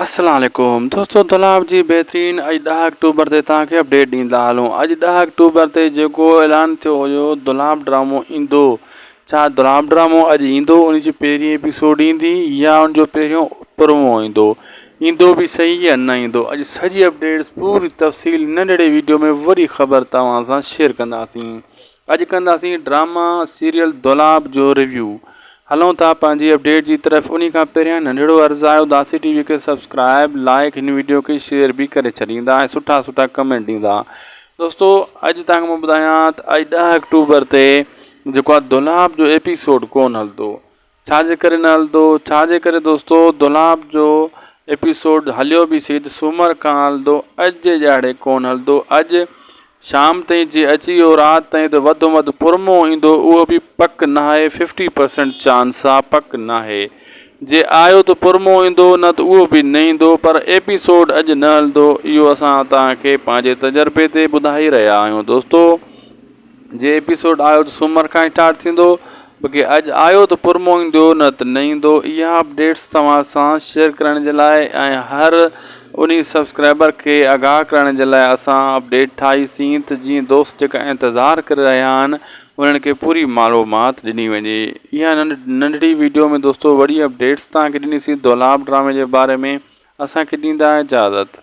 السلام عليڪم دوستو دولاب جي بهترين اڄ ڏهه آڪٽوبر تي توهان کي اپڊيٽ ڏيندا هلون اڄ ڏهه آڪٽوبر تي جيڪو اعلان ٿيو هيو دولاب ڊرامو ايندو ڇا دولاب ڊرامو اڄ ايندو ان جي پهرين ايپيسوڊ ايندي يا ان جو پهريون پرومو ايندو ايندو به صحيح يا نه ايندو اڄ سڄي اپڊيٽس پوري تفصيل ننڍڙي ويڊيو ۾ وڏي خبر توهان سان شيئر ڪنداسين اڄ ڪنداسين ڊراما سيريل دولاب جو ريويو هلون ٿا پنهنجي اپڊيٽ جي طرف انهي کان پهريان ننڍڙو عرض آهي اداسي ٽي وي کي سبسڪرائب لائڪ هن ويڊيو کي شيئر به ڪري ڇڏيندا ۽ سٺا سٺا ڪمينٽ ڏيندا دوستو اڄ تان کان مان ٻڌايان ته اڄ ڏهه اڪٽوبر تي جيڪو دولاب جو ايپيسوڊ ڪون هلندو ڇا جي ڪري نه هلندو؟ ڇا جي ڪري دوستو دولاب جو ايپيسوڊ هليو به سھي ته سومر کان هلندو اڄ جي ڄاڙي ڪون هلندو اڄ شام تائين جي اچي ويو رات تائين ته وڌ م وڌ پرمو ايندو اهو به پڪ ناهي ففٽي پرسنٽ چانس آ پڪ ناهي جي آيو ته پرمو ايندو نه ته اهو به نه ايندو پر ايپيسوڊ اڄ نه هلندو اهو اسان توهان کي پنهنجي تجربي تي ٻڌائي رهيا آهيون دوستو. جي ايپيسوڊ آيو ته سومر کان اسٽارٽ ٿيندو بقي اڄ آيو ته پرمو ايندو نه ته نه ايندو اها اپڊيٽس توهان سان شيئر ڪرڻ جي لاء ۽ هر انهي سبسڪرائبر کي آگاهه ڪرڻ جي لاء اسان اپڊيٽ ٺاهي سين ته جيئن دوست جيڪا انتظار ڪري رهيا آهن انهن کي پوري معلومات ڏني وڃي اها ننڍڙي ويڊيو ۾ دوستو وڏي اپڊيٽس توهان کي ڏني سين دولاب ڊرامي جي باري ۾ اسان کي ڏيندا اجازت